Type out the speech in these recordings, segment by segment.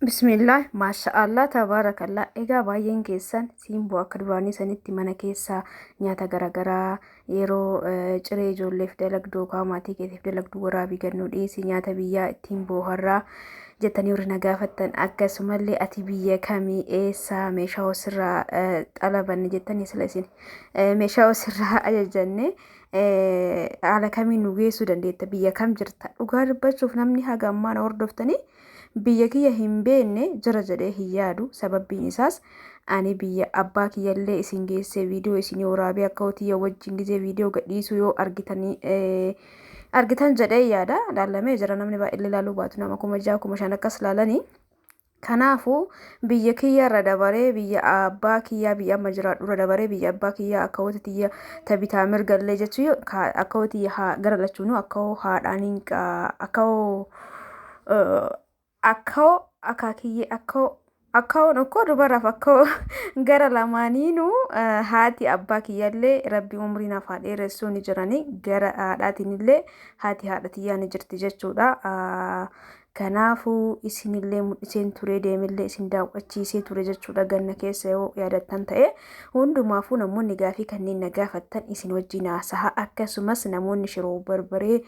Bismillah, maasha'Allah, tabaarakallah. Egaa baay'een keessan siimboo akka duraanii sanitti mana keessaa nyaata garaagaraa yeroo eh, ciree ijoolleef dalagdu yookaan maatii keetiif dalagdu waraabii gannuu dhiyeessii nyaata biyyaa ittiin booharraa jettanii warri na gaafattan akkasumallee ati biyya kamii eessaa meeshaa osirraa eh, xalabanne jettanii sila isin eh, meeshaa osirraa ajajanne eh, haala kamiin nu geessuu dandeetta biyya kam jirta dhugaa dubbachuuf namni haga ammaa na hordoftanii Biyya kiyya hin beenne jira jedhee hin yaadu sababbiin isaas ani biyya abbaa kiyyallee isin geessee viidiyoo isinii waraabee akka'u tiyya wajjin gizee viidiyoo gadhiisuu yoo argitanii argitan jedhee yaada laallamee jira namni baay'illee laaluu baatu nama kuma ja'a kuma shan akkas laalanii kanaafuu biyya kiyya irra dabaree biyya abbaa kiyyaa biyya amma jiraadhu irra dabaree biyya abbaa kiyyaa akka hoti tiyya tabitaa mirgallee jechuu akka hoti haa gara lachuunuu akka hoo haadhaan hin akka hoo akkoo akaakiyyee akkoo akkaoon okkoo dubaraaf akkoo gara lamaaniinu haati abbaa kiyyallee rabbi umrii naaf haa dheeressuu ni jiranii gara haadhaatinillee haati haadha tiyyaa ni jirti jechuudha. Kanaafuu isinillee mul'iseen turee deemillee isin daawwachiisee ture jechuudha ganna keessa yoo yaadattan ta'e hundumaafuu namoonni gaafii kanneen na gaafattan isin wajjin haasaha akkasumas namoonni shiroo barbaree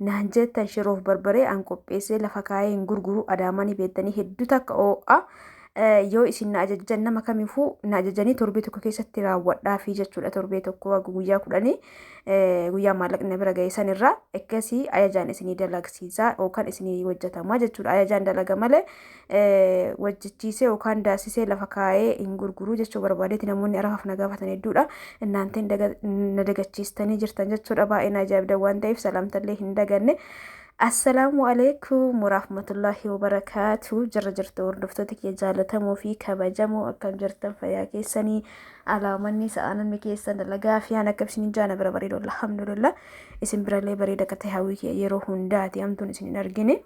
naan jettan shiroof barbaree an qopheessee lafa kaayee hin gurguru adaamaa ni beektanii hedduu takka oo'a yoo isin na ajajjan nama kamiifuu na ajajanii torbee tokko keessatti raawwadhaa fi jechuudha torbee tokko wagga guyyaa kudhanii guyyaa maallaqni na bira ga'e san irraa akkasii ajajaan isinii dalagsiisaa yookaan isinii hojjetamaa jechuudha ajajaan dalaga malee wajjichiisee yookaan daasisee lafa kaa'ee hin gurguruu jechuu barbaadeeti namoonni arafaaf na gaafatan hedduudha. Innaanteen na dagachiistanii jirtan jechuudha baay'ee na ajaa'ibda waan ta'eef salaamtallee hin daganne. Assalaamu alaikum warahmatullahi wabarakaatu jirra jirtu hordoftoota kiyya jaalatamoo fi kabajamoo akkam jirtan fayyaa keessanii alaamanni sa'aanonni keessan dalagaa fi haala akkabsiniin jaana bira bareedu alhamdulillah isin birallee bareeda akka ta'e hawwii kiyya yeroo hundaati hamtuun isin hin argine.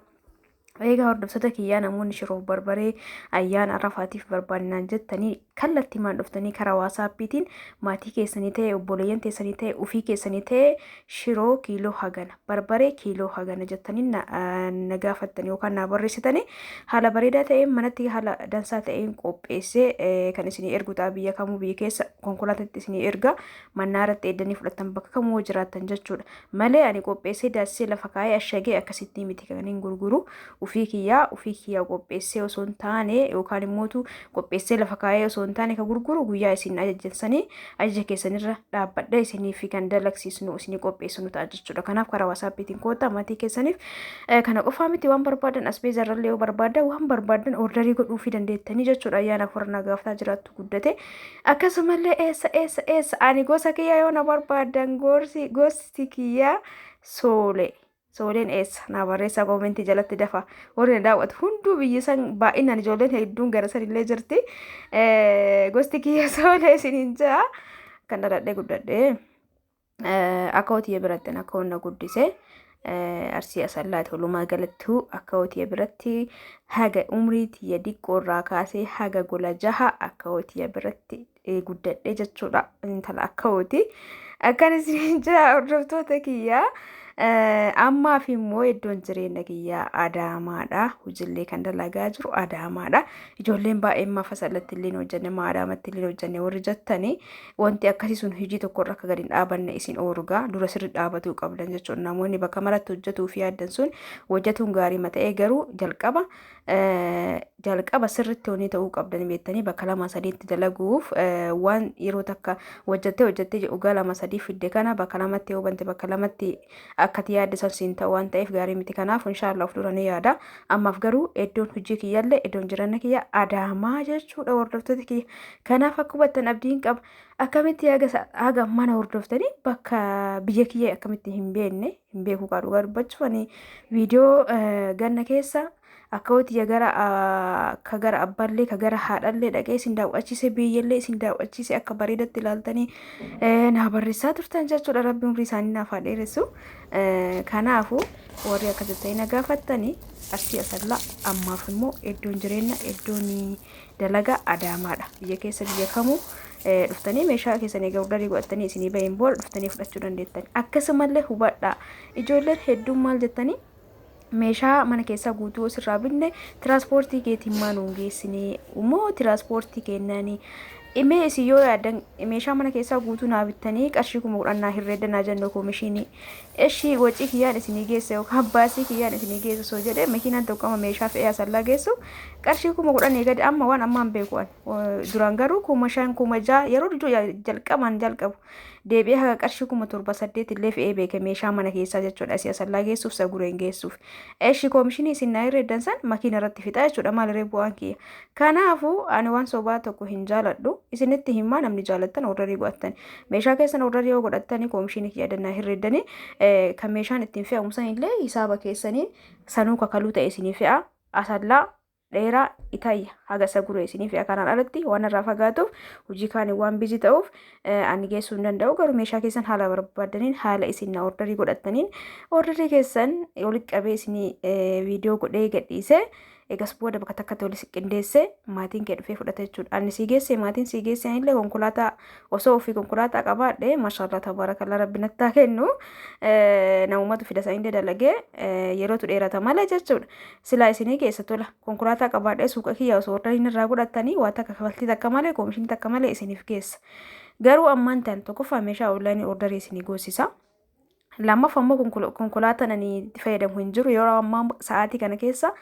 Eegaa hordoftoota kiyyaa namoonni shiroof barbaree ayyaana arrafaatiif barbaannaan jettanii kallatti maan dhuftanii karaa waasaappiitiin maatii keessanii ta'e obboleeyyan teessanii ta'e ofii keessanii ta'e shiroo kiiloo hagana barbaree kiiloo hagana jettanii na, ah, na gaafattanii yookaan na barreessitanii haala bareedaa ta'een manatti haala dansaa ta'een qopheessee eh, kan isinii ergu ta'a biyya kamuu biyya keessa konkolaatatti isinii erga mannaa irratti eeddanii fudhattan bakka kamuu jiraattan jechuudha. malee ani qopheessee daasisee lafa kaa'ee ashagee akkasittii miti kan hin gurguru ufii kiyyaa ufii kiyyaa qopheessee osoo hin taane yookaan immootu qopheessee lafa kaa'ee osoo hin taane kan gurguru guyyaa isin ajajjansanii ajaja keessanirra dhaabbadha isinii fi kan dalagsiisnu isinii qopheessinu ta'a jechuudha kanaaf karaa wasaappiitiin koottaa maatii keessaniif kana qofaa miti waan barbaadan asbeezarrallee yoo barbaadan waan barbaadan ordarii godhuufii dandeettanii jechuudha ayyaanaaf warra nagaaftaa jiraattu guddate akkasumallee eessa eessa eessa ani gosa kiyya yoo na barbaadan gorsi gosti kiyya soole sooleen eessa naa barreessaa koomentii jalatti dafa warri na daawwatu hunduu biyyi san baay'inaan ijoolleen hedduun gara san illee jirti Eh, gosti kiyya soolee isiniin jaa kan dhaladhee guddadhee. Akawootiya birattin akkawoon na guddise arsii asallaati walumaa galattuu akawootiya biratti haga umrii tiyya diqqoo irraa kaasee haga gola jaha akawootiya biratti guddadhe jechuudha intala akawooti akkan isin jira hordoftoota kiyyaa. ammaaf immoo iddoon jireenya kiyyaa adaamaadha hojillee kan dalagaa jiru adaamaadha ijoolleen baay'een mafa salatti illee hojjenne maa adaamatti illee hojjenne warri jettanii wanti akkasii sun hojii tokkorra akka gadi hin dhaabanne isin oorgaa dura sirri dhaabatuu qabdan jechuudha. Namoonni bakka maratti hojjetuu fi yaaddan sun hojjetuun gaarii mata'ee garuu jalqaba jalqaba sirritti hojii ta'uu qabdan beektanii bakka lama sadiitti dalaguuf waan yeroo takka hojjettee hojjettee waggaa lama sadii fidde kana bakka lamatti yoo bante bakka lamatti akkati yaadde san siin ta'u waan ta'eef gaarii miti kanaaf inshaallah of dura ni yaada ammaaf garuu iddoon hojii kiyyaallee iddoon jireenya kiyya adaamaa jechuudha hordoftoota kiyya kanaaf akka hubattan abdiin qaba akkamitti haga mana hordoftanii bakka biyya kiyya akkamitti hin beekne hin beeku kaa dhugaa dubbachuuf ani viidiyoo ganna keessa akkawoo tiyya gara ah, ka gara abballee ka gara haadhallee dhaqee isin daawwachiise biyyallee isin daawwachiise akka bareedatti ilaaltanii eh, naa barreessaa turtan jechuudha rabbi umrii isaanii naaf haa dheeressu Eh, kanaafu warri akka jettanii na gaafattanii arsii asallaa ammaaf immoo iddoon jireenya iddoon dalagaa adaamaadha biyya keessa biyya kamuu eh, dhuftanii meeshaa keessanii gurguranii godhattanii isinii bahin booda dhuftanii fudhachuu dandeettan akkasumallee hubadhaa ijoolleen hedduun maal jettanii meeshaa mana keessaa guutuu osirraa binne tiraanspoortii keetiin maa nuun geessinee immoo tiraanspoortii kennanii imee isin yoo yaadan meeshaa mana keessaa guutuu naa bittanii qarshii kuma kudhan naa hirreedda naa jennoo koomishinii eshii wacii kiyyaan isinii geesse yookaan baasii kiyyaan isinii geesse osoo jedhee makiinaan tokko amma meeshaa fe'ee asallaa geessu qarshii kuma kudhan eegade amma waan ammaan beeku'an duraan garuu kuma shan kuma ja'a yeroo jalqabaan jalqabu deebi'ee haga qarshii kuma torba saddeet illee fe'ee beeke meeshaa mana keessaa jechuudha si asallaa geessuuf sa gureen geessuuf eshi koomishinii isin naa irra eddan san makiina irratti fixaa jechuudha maaliree bu'aan kiyya kanaafuu ani waan sobaa tokko hin jaaladhu isinitti himaa namni jaalattan ordarii godhattan meeshaa keessan ordarii yoo godhattanii koomishinii kiyya dannaa hirreeddanii kan meeshaan ittiin fe'amu san illee hisaaba keessaniin sanuu kakaluu ta'e isinii fe'a asallaa dheeraa itayya haga isa guree isiniif yaa kanaan alatti waan irraa fagaatuuf hojii kaaniin waan bizi ta'uuf ani geessuu hin danda'u garuu meeshaa keessan haala barbaadaniin haala isin na ordarii godhattaniin ordarii keessan walitti qabee isinii viidiyoo godhee gadhiisee egas booda bakka takkatti walitti qindeessee maatiin kee dhufee fudhata jechuudha ani sii geessee maatiin sii geessee anillee konkolaataa osoo ofii konkolaataa qabaadhe maashaallah tabaarakallaa rabbi nattaa kennu namumatu fida sanillee dalagee yerootu dheerata malee jechuudha Silaa isinii keessa tola. Konkolaataa qabaadhee suuqa kiyyaa osoo ordariin irraa godhattanii waa takka kafaltii takka malee koomishinii takka malee isiniif geessa. Garuu ammaan tan tokkoffaa meeshaa onlaayinii ordarii isinii goosisa. Lammaffaa immoo konkol- konkolaataan ani itti fayyadamu hin jiru yeroo ammaa sa'aatii kana keessa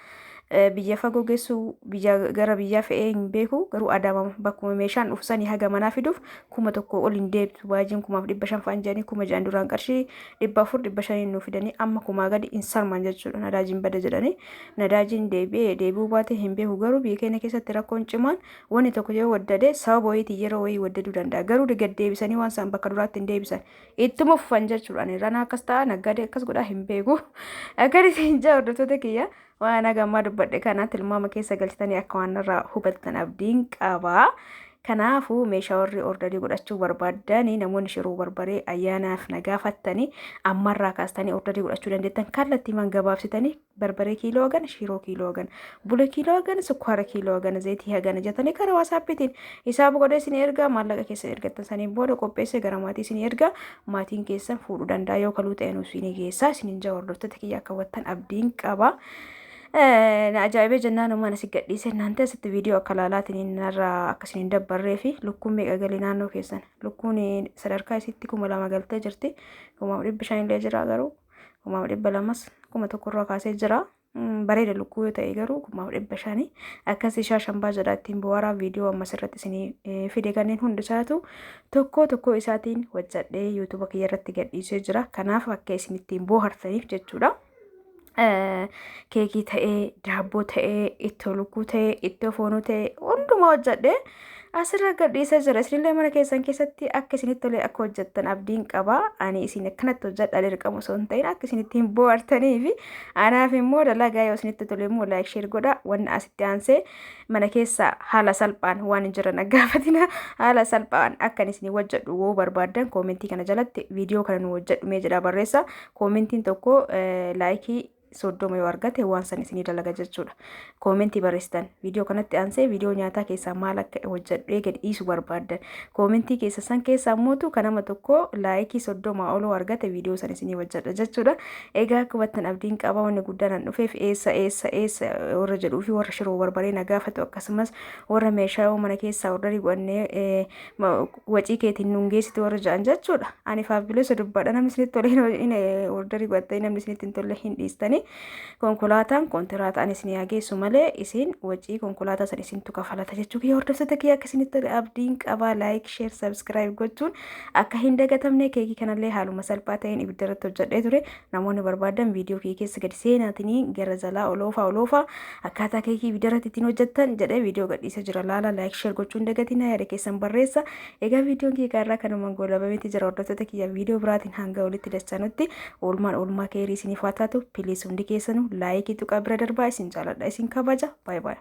eh, biyya fagoo geessu biyya gara biyyaa fe'ee hin beeku garuu adaama bakkuma meeshaan dhufu sanii haga manaa fiduuf kuma tokko ol hin deebitu baajiin kumaaf dhibba shan fa'an jedhanii kuma jedhan duraan qarshii dhibba afur dhibba shaniin nuu fidanii amma kumaa gadi hin sarman jechuudha nadaajiin bada jedhanii nadaajiin deebi'ee deebi'uu baatee hin beeku garuu biyya keenya keessatti rakkoon cimaan wanni tokko yoo waddade sababa wayiitiin yeroo wayii waddaduu danda'a garuu gad deebisanii waan isaan bakka duraatti hin deebisan ittuma fufan jechuudha ranaa akkas ta'a naggaadee akkas godhaa hin beeku akkan isin jaa hordoftoota kiyya. Waan hagammaa dubbadhe kana tilmaama keessa galchitanii akka waan irraa hubattan abdiin qaba. Kanaafuu meeshaa warri ordarii godhachuu barbaadanii namoonni shiruu barbaree ayyaanaaf na gaafattanii ammarraa kaastanii ordarii godhachuu dandeettan kallattiimaan gabaabsitanii barbaree kiiloo hagan shiroo kiiloo hagan bule kiiloo hagan sukkaara kiiloo hagan zeetii hagan jetanii karaa waasaappiitiin isaa buqodee isin ergaa maallaqa keessa ergattan saniin booda qopheessee gara maatii isin ergaa maatiin keessan fuudhuu danda'a yoo kaluu ta'e nuuf isinii geessaa isinin jaa hordoftoota kiyya akka wattan abdiin qaba. Na ajaa'ibee jennaan uumaan asi gadhiise naante asitti viidiyoo akka laalaatiin narraa akkasiin hin dabbarree fi lukkuun meeqa galii naannoo keessan lukkuun sadarkaa isitti kuma lama galtee jirti kumaaf dhibbi shan illee jira garuu kumaaf dhibba lamas kuma tokkorraa kaasee jira bareeda lukkuu yoo ta'e garuu kumaaf dhibba shanii akkas ishaa shambaa jedha ittiin bu'aaraa viidiyoo ammas irratti isinii fide kanneen hundi isaatu tokkoo tokkoo isaatiin hojjadhee yuutuuba kiyya irratti gadhiisee jira kanaaf akka isin ittiin boohartaniif jechuudha. Keekii ta'ee daabboo ta'ee ittoo lukkuu ta'ee ittoo foonuu ta'ee hundumaa hojjadhee Asirra gadhiisa jira. Isinillee mana keessan keessatti akka isinitti tolee akka hojjettan abdiin qaba. Ani isin akkanatti hojjedha dirqama osoo hin ta'in akka isinitti hin bohaartanii fi anaaf immoo dalagaa yoo isinitti tole immoo laayik sheer godha. Wanni asitti aansee mana keessa haala salphaan waan hin jiran gaafatina haala salphaan akkan isin hojjedhu woo barbaadan koomentii kana jalatti viidiyoo kana nu hojjedhu mee jedha barreessa. Koomentiin tokko laayikii soddoma yoo argate waan san isinii dalaga jechuudha. Koomentii barreessitan viidiyoo kanatti aansee viidiyoo nyaataa keessaa maal akka hojjedhu eegale dhiisu barbaaddan koomentii keessa san keessaa mootu kan nama tokko laayikii soddoma oloo argate viidiyoo san isinii hojjedha jechuudha. Egaa akka hubattan abdiin qaba wanni guddaan an dhufeef eessa eessa eessa warra jedhuu fi warra shiroo barbaree na gaafatu akkasumas warra meeshaa mana keessaa ordarii godhannee wacii keetiin nun geessitu warra ja'an jechuudha. Ani faabilosa dubbadha namni isinitti tole hin ordarii godhattanii namni isinitti hin tolle hin dhiistanii konkolaataan kontiraata ani isin yaa geessu malee isin wacii konkolaataa san isintu kafalata jechuu kiyya hordoftoota kiyya akka isinitti tole abdiin qabaa laayik sheer sabskiraayib gochuun akka hin dagatamne keekii kanallee haaluma salphaa ta'een ibidda irratti hojjedhee ture Namoonni barbaadan viidiyoo kee keessa gadi seenaatinii gara jalaa oloofaa oloofaa akkaataa keekii ibidarratti ittiin hojjettan jedhee viidiyoo gadhiisa jira laala laayik sheer gochuu hin dagatinaa yaada keessan barreessa egaa viidiyoon kiyya irraa kanumaan goolabameeti jira hordoftoota kiyya viidiyoo biraatiin hanga walitti dachaanutti oolmaan oolmaa keerii isiniif haa taatu piliis hundi keessanuu laayikii tuqaa bira darbaa isin jaaladha isin kabaja baay baay.